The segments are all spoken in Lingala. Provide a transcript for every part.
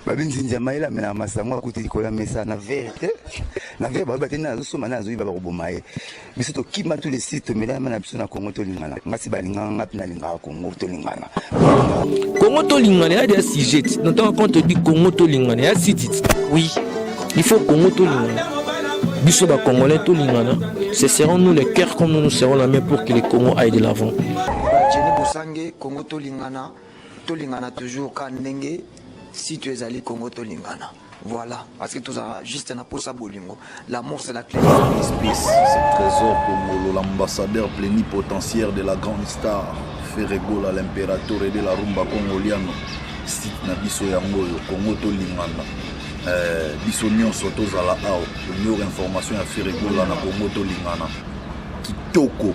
babi nzinzi ya mayele amela masango akuti likolo ya mesa na vere te na vere baoyo bateni azosomba na azoyiba bakoboma ye biso tokima tu le site tomelama na biso na kongo tolingana ngasi balingaka nga mpe nalingaka kongo tolingana kongo tolingana ya dia sujet na ntango quand odi kongo tolingana ya sitit oui il faut kongo tolingana biso bacongolais tolingana ce seront nous le cœur comme nous nous serons la main pour que le congo aille de l'avant Jenny Bosange, Congo Tolingana, tolingana toujours ka ndenge site ezali congo tolingana voilà parce que tozala juste na posa bolingo l'amour c'est la clé espèce c'est trésor kongolo l'ambassadeur plénipotentiaire de la grande star ferregola l'impérateur de la rumba congoliano site na biso yango oyo congo tolingana eh, biso nyonso tozala awa omiora information ya ferregola na congo tolingana kitoko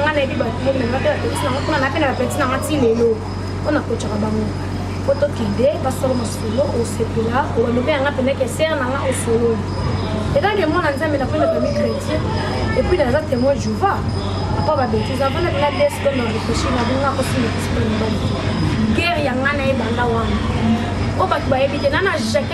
nga nayebi bato bo mema mpe bapeti nanga mpona napena bapeti nanga ti lelo mpo nakocaka bango mpo tokende basolo masolo osepela obando mpe yanga mpenza ke sere nanga osololi etake mwana nzambe na mpona bami chrétien epuis naza témoin jova apa babetize avanda mpenza desko na réfléchi na bonga akosimba kosipela mobali guerre yanga na ebanda wana oyo bato bayebi te nana jacke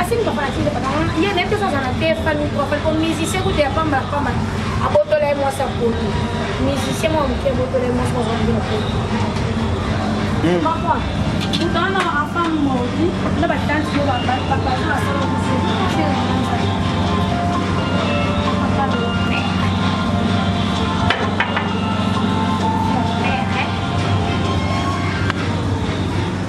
asili bafanatiki nde papa ye nayebi toza aza na te fali profane po musicien kutu ya pamba pamba abotola ye mwasi ya poto musicien mwa moke abotola ye mwasi mwazalaki ya poto comprendre totana na enfant mordi na batante yo babazo basala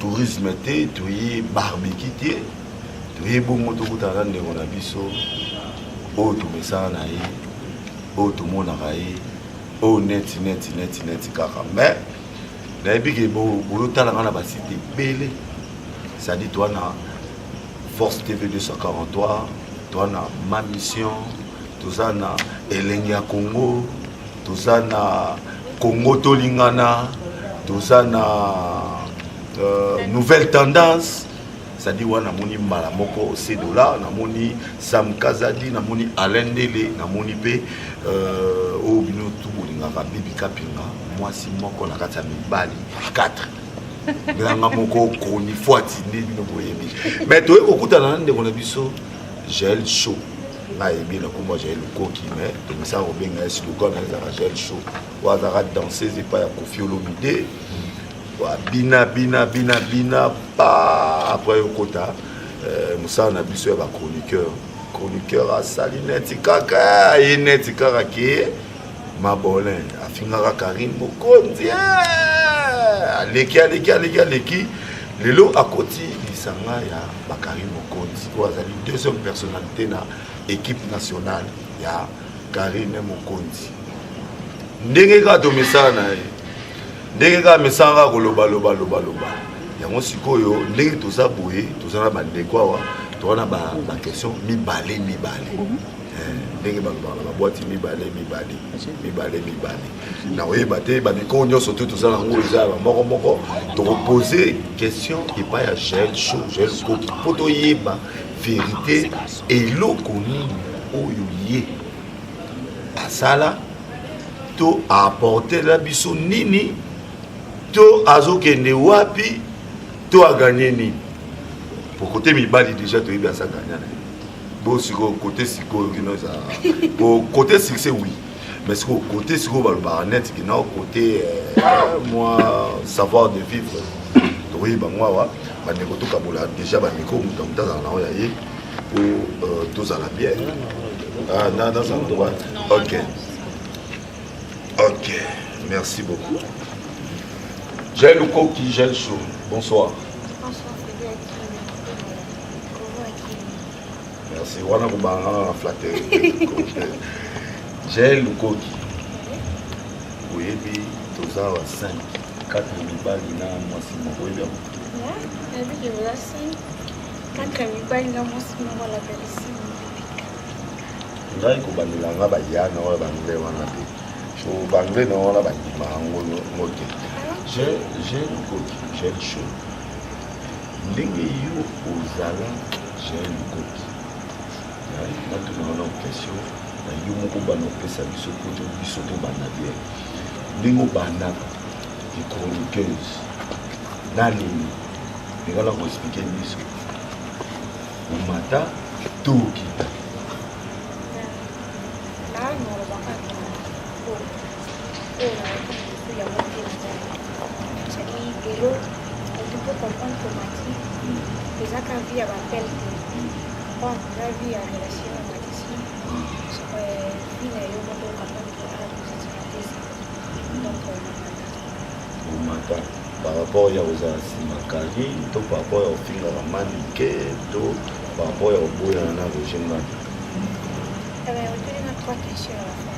tourisme te toye barbecue te toye bongo tokutana na ndeko na biso oyo tomesana na ye oyo tomonaka ye oyo neti neti neti neti kaka mais nayebi ke boyotala nga na basite ebele sadi toa na force tv 243 toa na ma mission toza na elengi ya congo toza na congo tolingana toza na euh, nouvelle tendance cestadi wana namoni mbala moko sedola namoni sam kazadi namoni alain ndele namoni mpe euh, oyo bino tu bolingaka bibi kapinga mwasi moko na kati ya mibali 4 nanga moko chronifuati nde bino boyebi mais toyei kokutana na ndeko na biso jael show nga ayebi na kombo jael lukoki mais tomisaka kobenga ye slogan na ezaka jael show oyo azalaka danseuse epai ya kofi olomide bina bina bina bina pa après okota euh, mosala na biso ya bachroniqueur chroniqueur asali neti kaka aye neti kaka ke mabolin afingaka karine mokonzi eh! aleki aleki aleki aleki lelo akoti lisanga ya bakarine mokonzi oyo azali deuxième personnalité na équipe nationale ya karine mokonzi ndenge kaka tomesana na ye ndenge kaka mesana kaka koloba loba loba loba yango sikoyo ndenge toza boye toza na bandeko awa toza na baquestion mibale mibale ndenge balobaka na bwati mibale mibale mibale mibale na koyeba te bamikoo nyonso te toza na yango eza ya bamoko moko tokopose question epai ya jael cho jael koki mpo toyeba verité eloko nini oyo ye asala to aapportela biso nini to azokende wapi to aganye nini pokote mibali deja toyebi aza ganya na ye bo sikoyo kote sikoyo kino eza kote succès oui mais sikoyo kote sikoyo balobaka neti kino kote euh, mwa savoir de vivre tokoyi bango awa bandeko tokabola déjà bamiko moto moto azala nango ya ye po euh, tozala bien ah, nazala nango ok ok merci beaucoup J'ai le coq qui gèle chaud. Bonsoir. merci wana kobanga na flateri jael lukoki oyebi toza wa 5 4 mibali na mwasi moko oyebi yango ngai kobandela nga baya na oyo bangle wana te so bangle na wana bandima yango ngo te j'ai une coquille j'ai une chose ndenge yo ozala jean lukoki natunaka na question na yo moko bana opesa biso poto biso tobanda bien ndenge obandaka les chroniqueuse na nini ndenge na koexplike biso omata to okita rapport ya kozala nsima kali to par rapport ya kofingaka manike to par rapport ya koboyana na roger ngani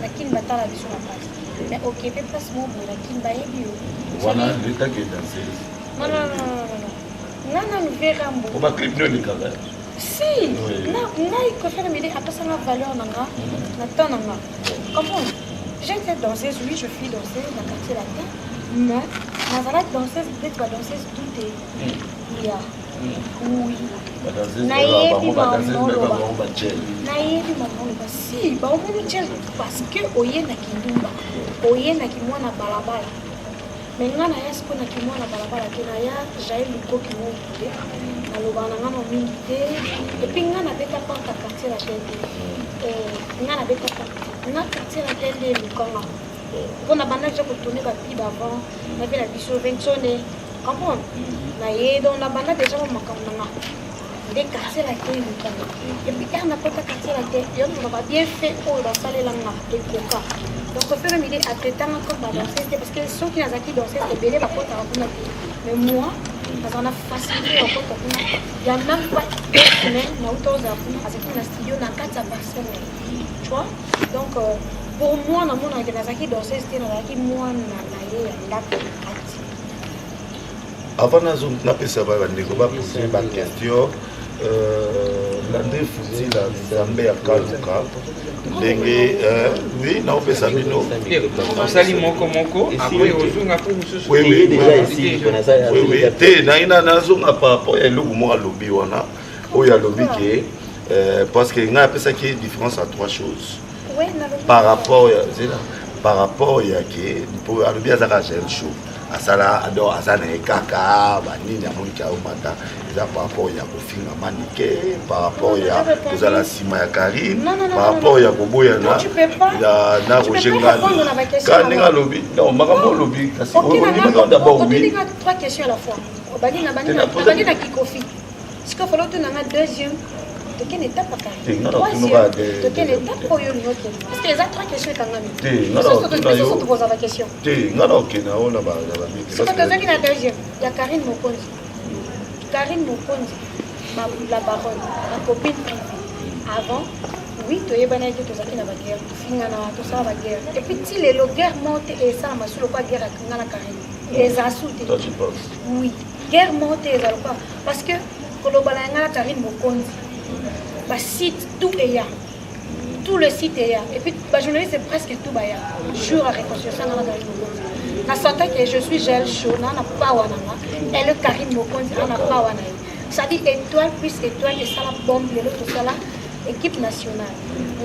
na kin batala biso na pasi mais okepe place moko boye na kin bayebi yo wana leta ke danseuse non non non non non nga nanu vera mbo oba clip nio elekaka si ngai kofere mede apesanga valeur na nga na temps na nga comprendre j'étais danseuse oui je suis danseuse na quartier latin mais nazalaki danseuse peut-être badanseuse doute ya oui nayebi mamoloba nayebi mamoloba si baomoni jel parce que oye na kindumba oye na kimwana balabala me nga naya sikoyo na kimwana balabala te naya jael lukoki moki te naloba na nga na mingi te epui nga nabeta panta quartier la tende nga nabeta panta na quartier la tende lukanga mpo na banda ja kotourne bapiba avant na vie na biso vensone Comment Na ye donc na banda déjà ba makambo na nga. Nde quartier la te luka. Et puis quand na kota quartier la te, yo na ba bien fait oyo ba salela nga te koka. Donc au fur et à mesure atetanga comme ba danseuse parce que ceux qui nazaki danseuse ebele ba kota kuna te. Mais moi naza na facilité ya kota kuna. Ya même pas deux semaines na uta oza kuna azaki na studio na kati ya personne. Tu vois Donc euh, pour moi namonaka nazalaki danseuse te nazalaki mwana na ye ya ndako avant nazo napesa ba bandeko ba poser ba question euh, na nde futila nzambe ya kaluka ndenge euh, oui naopesa bino osali moko moko apres ozonga mpo mosusu te naye nazonga par rapport ya eloko moko alobi wana oyo alobi ke euh, parce que ngai apesaki différence ya trois choses par rapport ya zela par rapport ya ke mpo alobi azaka jeune show asala donc aza na ye kaka banini amoni ke aomata eza par rapport ya kofinga manike par rapport ya kozala nsima ya karine par rapport ya koboyana na roger ngani ka ndenge alobi non makambo olobi kasi ondimaka dabord wi Sikoyo falo tuna nga deuxième tokende etape bakari troisième tokende etape oyo olingi okende parce que eza trois question ekangami biso tokozala question te nga na okenda oyo na bamiki siko tozongi na deuxième ya karine mokonzi karine mokonzi la baronne la copine privée avant oui toyebanaki tozalaki na baguerre tofingana tosala baguerre epuis ti lelo guerre moko te esalama so lokwa guerre akinga na karine eza su te oui guerre moko te eza lokola parce que kolobana ya ngai na karine mokonzi basite tout eya tout le site eya et puis bajournaliste presque tout baya jour ya réconciliation ngai na karine mokonzi na santa ke je suis gel chaud naa na pawa na nga ele karine mokonzi naa na pawa na ye sadi étoile plus étoile esala bombe lelo tosala équipe nationale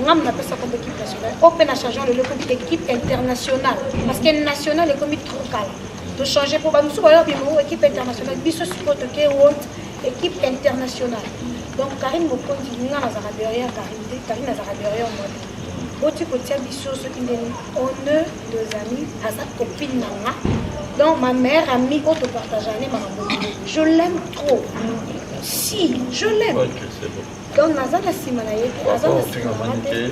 nga napesa kombo équipe nationale oyo mpe na changeant lelo ekomi équipe internationale parce que nationale ekomi trop kala To changer po ba musu ba lobi mo équipe internationale biso siko to ke world équipe internationale. Donc Karine Mokonzi nga na zaka derrière Karine te, Karine na zaka derrière moi. Boti ko tia biso ce qui est on ne deux amis à sa copine na nga. Donc ma mère amie o to partager ne ma Je l'aime trop. Si, je l'aime. donc naza na nsima na ye te aza na nsima na te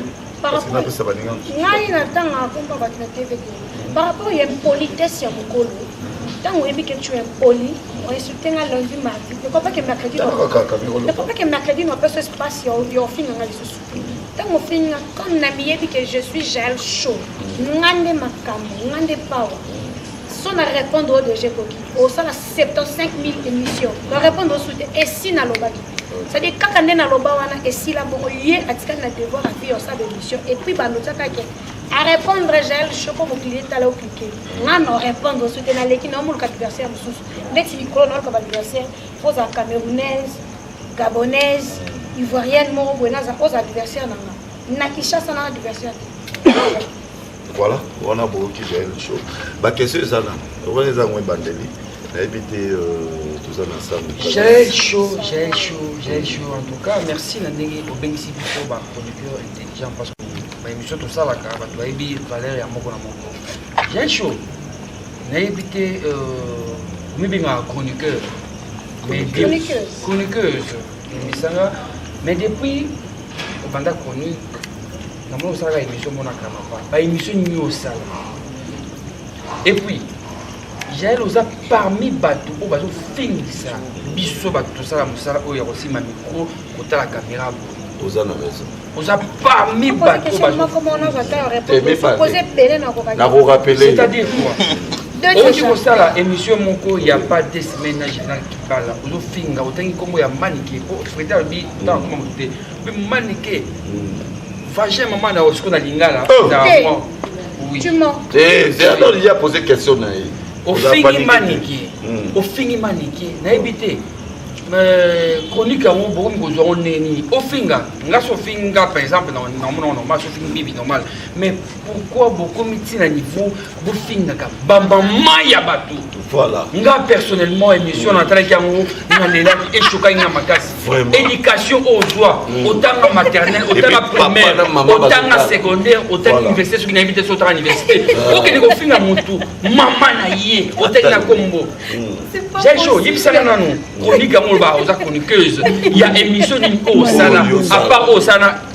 ngai natangaka komba bato na tv te par rapport ya impolitesse ya mokolo ntango oyebi ke tu impoli oinsulte nga lundi mardi ekopake mercredi ekopake mercredi na opesa espace ya ofinga nga lisusu ntango ofingi nga comme na miyebi ke je suis jael chaud nga nde makambo nga nde power so na répondre oyo deja ekoki osala 75 000 émission na répondre osu te esi nalobaki cetadire kaka nde naloba wana esila bongo ye atikali na devoir afi yosala émission epuis bandotiaka ke arépondre jael shoko mokili etala oklike nga no répondre soki naleki naomoluka adversaire mosusu ndeti likolo naoluka baadversaire oza camerounaise gabonaise ivoirienne moko boye naza oza adversaire na nga na kinshasa na adversaire te Voilà, wana boyoki Jael Show. Ba question eza na, wana eza ngo ebandeli. Nayebi te euh, toza na sango. Jael Show, Jael Show, Jael Show. En tout cas, merci na ndenge obengisi biso ba chroniqueurs intelligents parce que ba émission tosalaka bato bayebi valeur ya moko na moko. Jael Show, nayebi te euh, omibengaka chroniqueur. Mais de- Chroniqueuse. Chroniqueuse. Emisanga. Mais depuis obanda chronique na mona osalaka émission mona kramapa ba émission nini osala et puis jael oza parmi bato oyo bazofingisa biso bato tosala mosala oyo ya kosimba mikro kotala kamera boye oza na raison oza parmi bato bazokorapelecetadire quoi oki kosala émission moko ya pas de semaine na général kibala ozofinga otangi nkombo ya manike po frete alobi ntango akoma moto te manike vagin mama na osiko na lingala zeador ya pose question na ye ofingi manike hmm. ofingi manike nayebi te chronique yango bokomi kozwa ngo ndenge nini ofinga nga so ofingi nga par exemple na monoko normal so ofingi bibi normal mais pourquoi bokomi ti na niveau bofingaka bamama ya bato voilà. nga personnellement émission natalaki yango nalelaki echokaki nga makasi éducation oyo ozwa mm. otanga maternel otanga primaire otanga secondaire otanga université soki nayebi te so otanga université ah. okende kofinga motu mama na ye otaki na kombo mm. jajo yebisaka nanu chronique yango oloba oza chroniqueuse ya émission nini oyo osala apart oyo osala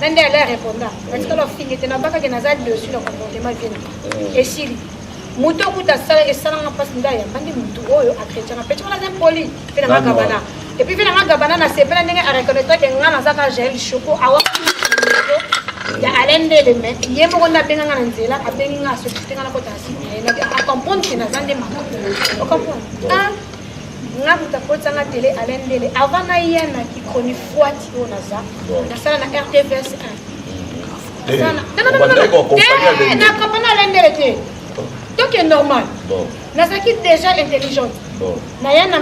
na nde ale areponda natikala ofingi te nabakaki naza dessus na comportement viene eh. esili moto okuta asala esalanga mpasi nde ayambandi motu oyo akretien apeti wana aza impoli mpe na magabana epuis mpe na magabana nasepela ndenge areconnaîtrake nga nazaka jael choco awa ya alain ndele me ye moko nde abenga nga na nzela abengi nga asokite nga nakota na site na ye acomprendre ke naza nde makambo ocomprendre nga moto akotisa nga tele alain ndele avant naya na kicronifuati oyo naza nasala na rtvs 1 nakompana alain ndele te toke normal nazalaki déjà intelligente naya na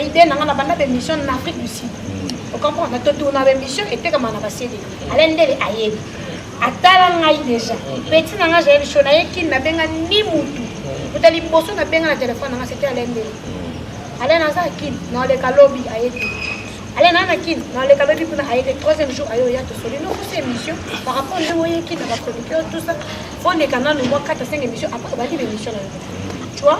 idée na nga na banda bémission na afrique du sud okomprendre totourna bémission etekama na basede alain ndele ayebi atala ngai deja peti na ngai jael sho naye kini nabenga ni mutu kuta liboso nabenga na telefone na ngai sete alendeli ale naza kini naoleka lobi aye te ale naa na kini naoleka lobi kuna aye te troisième jour aye oya tosoli nokosa émission par rapport ndenge oye kini na bachroniqueur tout ça oleka nanu mwa kata cinq émission après obandi ba émission na yo tu vois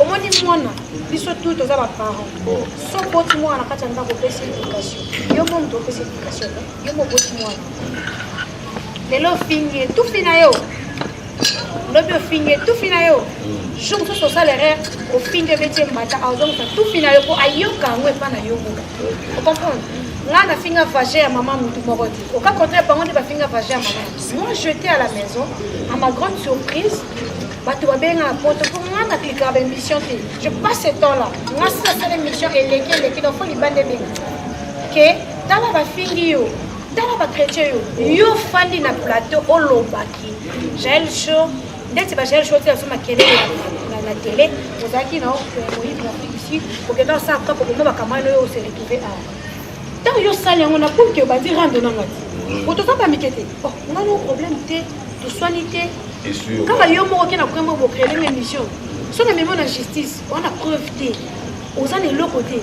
omoni mwana biso tu toza baparent so boti mwana na kati ya ndako opesi éducation yo mo moto opesi éducation yo mo boti mwana lelo ofingi etufi na yo lobi ofingi etufi na yo mm. jour mosusu osala erreur ofingi ebeti mbata azongisa tufi na yo mpo ayoka yango epa na yo moka ocomprendre ngai nafinga vage ya mama motu moko te oka contraire bango nde bafinga vage ya mama moi jeté à la maison à ma grande surprise bato babengaka poto mpo nga na klikaka ba émission te je passe ce temps là nga sila sala émission eleki eleki donc fo libanda ebenge ke tala bafingi yo tala bachrétien yo yo ofandi na plateau olobaki jael show ndeti ba jael show te azo makelele na tele ozalaki na moyibi na afrique du sud okenda osala kaka oboma bakamano yo ose retrouve awa ntango yo osali yango na pulke obandi rando nanga ti otoza bamike te oh, nga no problème te toswani te kaka yo moko ke na koyamba bocrele nga émission so na memo na justice wana preuve te oza na eloko te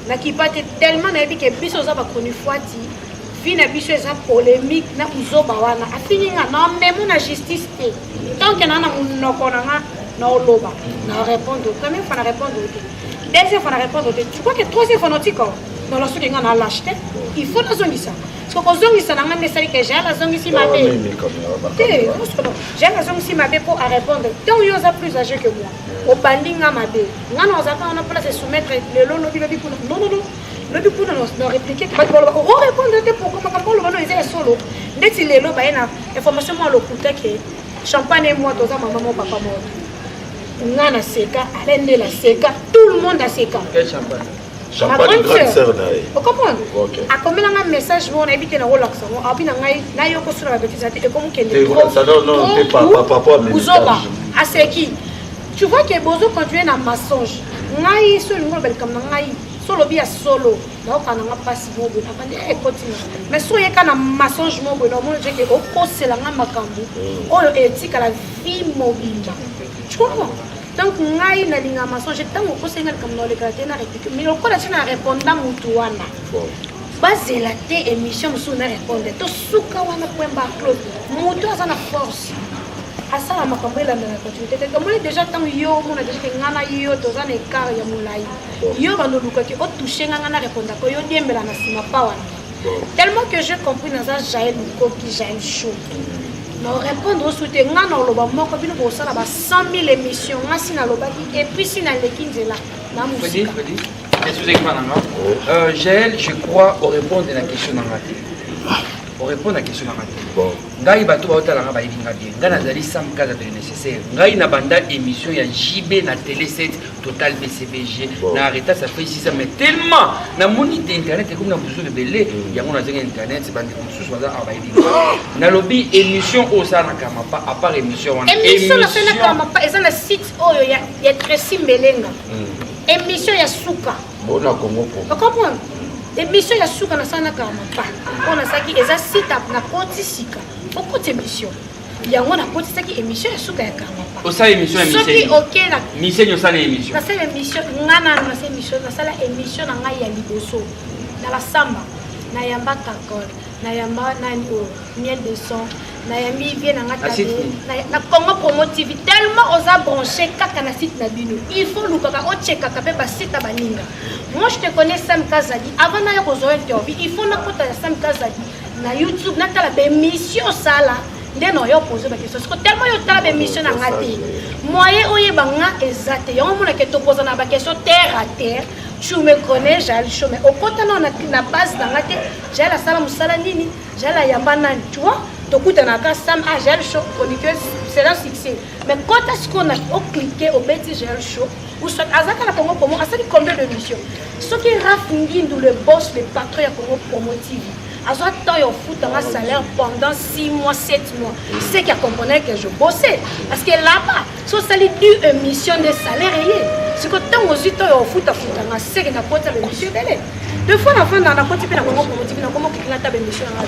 nakipa te tellement nayebi ke biso oza bachronifuati vie na biso eza polémique na buzoba wana afingi nga na memo na justice te tant ke naa na monoko na nga naoloba na répondre première fois na répondre te deuxième fois na répondre te tu crois que troisième fois naotika nalosuki nga na lâche te il faut nazongisa Parce que kozongisa na ngai nde esali ke jean azongisi mabe te osono jean azongisi mabe mpo arépondre ntango yo oza plus age que moi obandi nga mabe nga na ozalaka wana mpona se soumettre lelo lobi lobi kuna nonono lobi kuna na réplique bato baloba orépondre te pourkoi makambo oloba no eza ya solo ndeti lelo baye na information mwa lokuta ke champagne ye mwa toza mama mo papa moko nga na seka ale nde na seka tout le monde aseka champagne grande sœur na ye okomona akomela ngai message moko nayebi te nakolakisa yango abi na ngai nayoki osuna babetise ya te ekomokendeuzoba aseki tu vois ke bozo continue na mensonge ngai so olingi oloba likambo na ngai so olobi ya solo nayoka na nga mpasi moko boye nakandi ekoti eh, na mais so oyeka na mensonge moko boye naomoni jeke okosela nga makambo oyo etikala vie mobimba tu comprends donc ngai nalinga masonge ntango okoseli nga likambo na olekaka te na repike mais lokola ti na reponda motu wana bazela te émission mosusu na reponde to suka wana point bar claude motu aza na force asala makambo elandana continuité te tomoni déjà ntango yo omona déjà ke ngai na yo toza na écart ya molai yo bandoluka ke otouche ngai ngai na repondaka yo diembela na nsima pa wana tellement que j'ai compris naza jael mokoki jael show na orépondre osu te ngai na oloba moko bino bosala ba 100 000 émission ngai si nalobaki epuisi naleki nzela na mosika euh, jael je crois orépondre na question na ngai te orépondre na question na ngai te ngai bato baotala ngai bayebi ngai bien ngai nazali sam kaza de nécessaire ngai na banda émission ya jb na télé 7 total bcbg bon. na arreta ça fait 6 ans mais tellement namoni te internet ekomi na bozulu ebele mm. yango nazangi internet bandeko mosusu baza awa bayebi nalobi émission oyo osalaka mapa à part émission wana émission nasalaka mapa eza na site oyo ya, ya tracy mbelenga mm. émission ya suka bona kongo kongo okomprendre émission ya suka nasalaka mapa oyo nasalaki eza site na koti sika okoti émission yango nakotisaki émission ya suka ya kama osala émission ya soki oke na misenyi osala émission nasala émission nga nanu nasala émission nasala émission na ngai ya liboso na basamba nayamba kakol nayamba nani oyo miel de son nayambi vie na nga tabe na congo promo tv tellement oza branché kaka na site na bino il faut olukaka ochekaka mpe basite ya baninga moi je te connais sam kazadi avant naya kozwa interview il faut nakota ya sam kazadi na youtube natala bemission osala nde na oyo poze bakestion siko telema yo otala bemission na nga te moye oyeba nga eza te yango omonake topoza na bakestion terre à terre tu me connais jali chome okota nao na base na nga te jali asala mosala nini jali ayamba nani tu vois tokutana kaka sam a ah, jali cho chroniqueuse c'est un succès mais kota sikoyo na oclike obeti gel show usat azaka na congo promo asali combien de mission soki raf ngindu le boss le patron ya congo promo tv azwa temps ya ofutanga salaire pendant 6 mois 7 mois ce qui accompagnait que je bossais parce que là-bas so osali du émission de salaire eye siko ntango ozwi temps ya ofutafutanga seke nakota bemission ebele de fois na fanda nakoti mpe nakongo promotivi nakomo kikina ta bemission yanga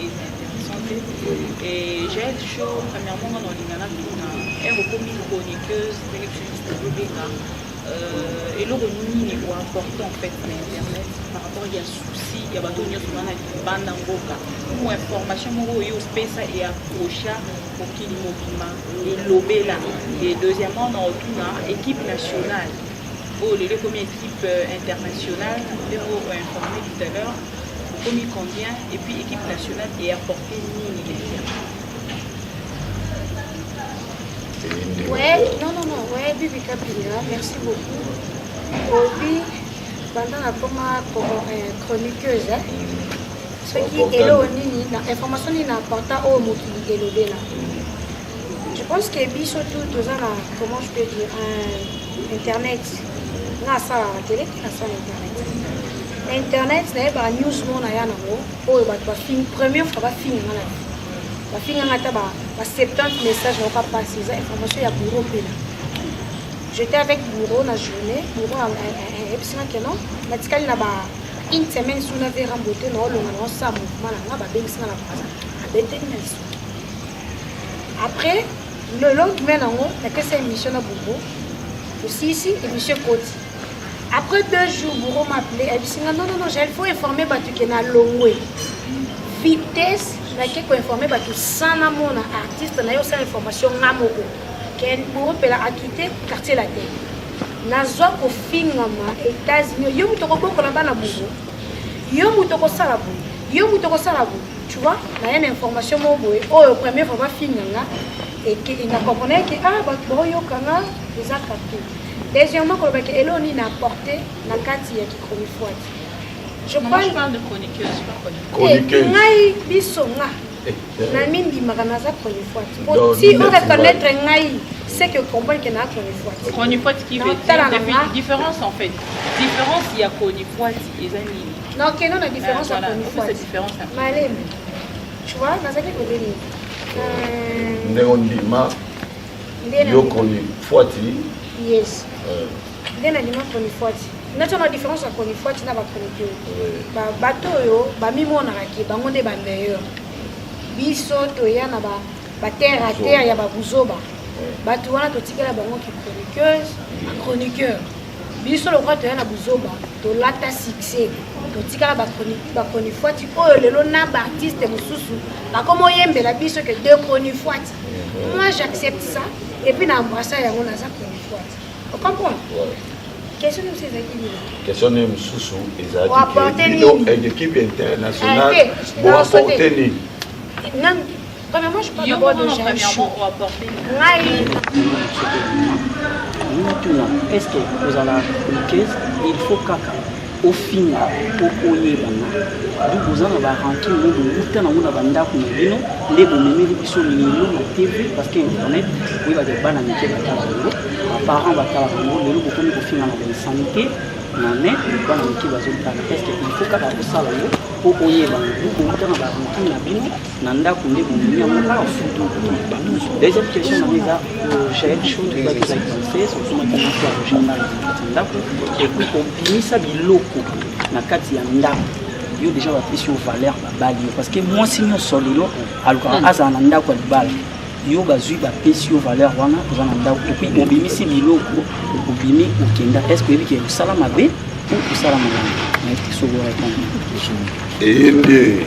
eza intéressant te et j'ai un show premièrement nga na olinga na tuna ere okomi chroniqueuse ndenge biso tozobenga eloko nini ekoimportant en fait na internet par rapport ya souci ya bato nyonso wana libanda mboka mo information moko oyo opesa eaprocha mokili mobima elobela e deuxièmement na otuna équipe nationale oyo lelo ekomi équipe internationale ndenge okoinforme tout à l'heure Ekomi combien et puis équipe nationale est apportée nini déjà Ouais, non, non, non, ouais, Bibi Kapinga, merci beaucoup. Obi, banda nakoma euh, chroniqueuse, hein. soki eloo nini na information nini na apporta oyo mokili elobela Je pense que biso tout toza na comment je peux dire un internet na sala la télé na sala internet na internet na ye ba news mo na ya na ngo oyo bato ba fini première fois ba fini nga na ba fini nga ta ba ba 70 messages na ka passer eza information ya bureau pela j'étais avec bureau na journée bureau ayebisi nga que non natikali na ba une semaine sous na vera mbote na olonga na osala mouvement na nga babengisi nga na braza abeteli na lisu après le lendemain nango napesa émission na bobo tosisi émission ekoti après deux jours bouro m'appele ayebisi nga non non non il faut informer bato ke na longwe vitesse nake koinforme bato sans namona artiste na yo osala information nga moko ke bouro mpela akite quartier latin nazwa kofingama états-unis yo moto okobokola bana bouro yo moto okosala boye yo moto okosala boye tu vois naye na information moko boye oyo premier fois bafinga nga na comprenaki ke ah bato baoyoka nga eza capte deuxièmement koloba ke eloo nini apporte na kati ya kichronifuati ngai biso nga eh, eh. na mindimaka naza chronifuati po ti o reconnaître ngai c'est que comprendre que na chronifuati chronifuati qui veut dire différence en fait différence ya chronifuati eza nini na okeno na différence ya chronifuati malembe tu vois nazaki kobeli euh, ndenge ondima yo chronifuati yes euh. nde nandima chronifuati nati wana différence ya chronifuati na bachronique bato oyo bamimonaka ke bango nde bameilleur biso toya na ba ba terre à terre ya babuzoba bato wana totikela bango ki chroniqueuse chroniqueur biso lokola toya na buzoba tolata succès totikala bachronifuati oyo lelo na baartiste mosusu bakoma oyembela biso ke de chronifuati moi j'accepte ça epuis na embrassa yango naza chronifuati ocomprendre question mosusu ezalaki nini question nini mosusu ezalaki ekipe internationale boaporte nini Premièrement, je parle d'abord de Jean Chou. Ngai. Mituna, est-ce que vous en avez chroniqueuse Il faut kaka ofinga po oyebana donc boza na barankin oyo bowuta nango na bandako na bino nde bomemeli biso lelo na tv parce que internet oyebaka bana mike batala yango baparent batalaka yango lelo bokomi kofinga na bainsanité na mai bana mike bazotala est ce que il faut kaka kosala yango po oyebana donc bowuta na barankin na bino na ndako nde bondimi yango awa surtout kotumba deuxième question na eza jael show tozalaki eza conseil sokomaki moko ya journal na kati ya ndako ekoki kobimisa biloko na kati ya ndako yo deja bapesi yo valeur babali yo parce que mwasi nyonso lelo alukaka hmm. azala na ndako ya libala yo bazwi bapesi yo valeur wana oza na ndako epuis obimisi biloko obimi okenda est ce que oyebi ke osala mabe ou osala malamu nayebi te soki orépondre eyende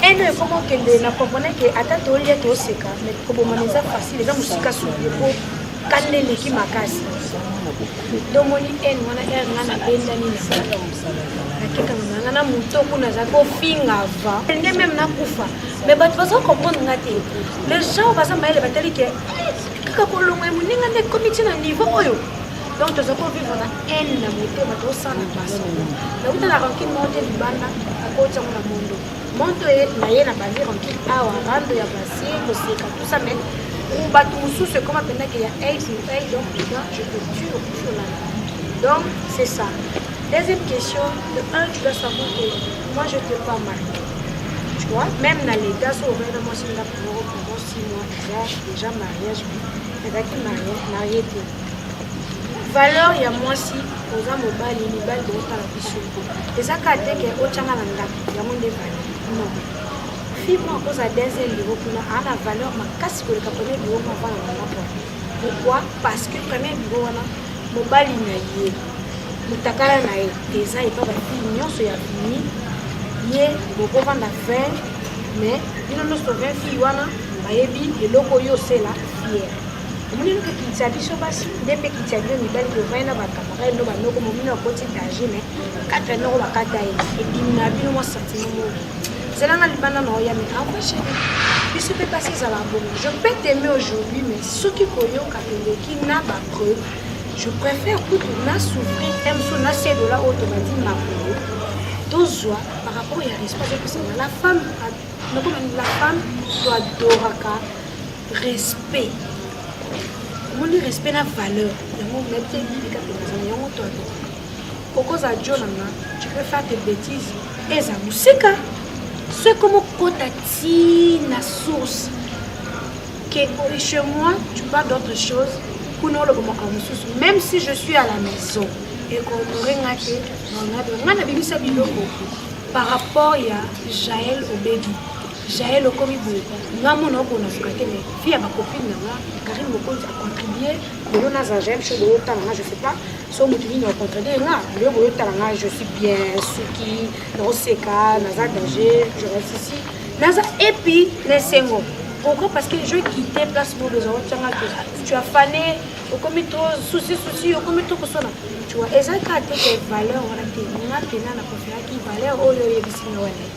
haine oyo ekoma okende na comprene ke ata tolia toseka mais kobomana eza facile eza mosika suki po kanda eleki makasi tomoni haine wana ere nga nabendani na nakekanga nanga na moto kuna aza kofinga va nde meme nakufa mais bato baza comprendre nga te les gens baza mayele batali ke kaka kolongoya moninga nde ekomi ti na niveau oyo donc toza ko vivre na haine na motema tosala baso nauta na rancune moko te libanda akoti yango na mondo moto ye na ye na bandi rancune awa rando ya basi koseka tout ça mais bato mosusu ekoma mpenza ke ya aids motai donc toza je te jure sur la donc c'est ça deuxième question de un tu dois savoir que moi je te pas mal tu vois même na l'état so ovena mwasi nga pour pendant six mois déjà mariage ezalaki marié te valeur ya mwasi oza mobali mibali bokotala biso eza kaka te ke otyanga na ndako yango nde valeur non fille moko akozala deuxième bureau kuna aa na valeur makasi koleka premier bureau moko avana na moko pourquoi parce que premier bureau wana mobali na ye motakala na ye eza epa bafille nyonso ya fini ye bokovanda 20 mais bino nyonso 20 fille wana bayebi eloko oyo osela fiere omoni noke kiti ya biso basi nde mpe kiti ya bino mibali bovai na bakamarade no banoko momino akoti danger me katre noko bakata ye ebimi na bino mwa santimo moko zelanga libanda na oya me envoi chéri biso mpe basi ezala bongo je peux t'aime aujourd'hui mais soki koyoka eleki na bapreuve je préfère kutu na souffrir te mosusu na sedola oyo tobandi makolo tozwa par rapport ya respect ezopesana la femme nakomani la femme toadoraka respect omoni respect na valeur yango nayebi ebibika mpenza na yango to atoka okozala jo na nga tu peux faire tes bêtises eza mosika so ekomi okota ti na source ke oye chez moi tu parles d'autre chose kuna oloba makambo mosusu même si je suis à la maison ekonore nga te nga na bimisa biloko par rapport ya jael obedi Jael okomi boye nga mona oko na suka te mais fille ya ba copine na nga Karine Mokonzi a contribuer lelo na za j'aime show boyo tala nga je sais pas so moto nini a contribuer nga lelo boyo tala nga je suis bien suki na oseka na za danger je reste ici na za et puis na esengo pourquoi parce que je quitter place boyo besoin otanga que tu as fané okomi trop souci souci okomi trop kosona tu vois eza kaka te valeur wana te nga pena na confiaki valeur oyo oyebisi nga wana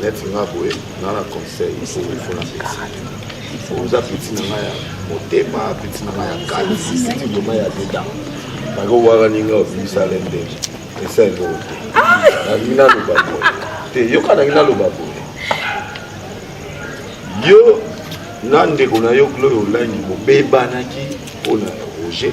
neti nga boye nga na conseil ifo ifo na peti oza peti na nga ya motema peti na nga ya kali peti vraimen ya deda bako waka ninga obimisa lende esa eloko te nalingi naloba boye te yoka nalingi naloba boye yo na ndeko na yo gloire olangi bobebanaki mpo na roger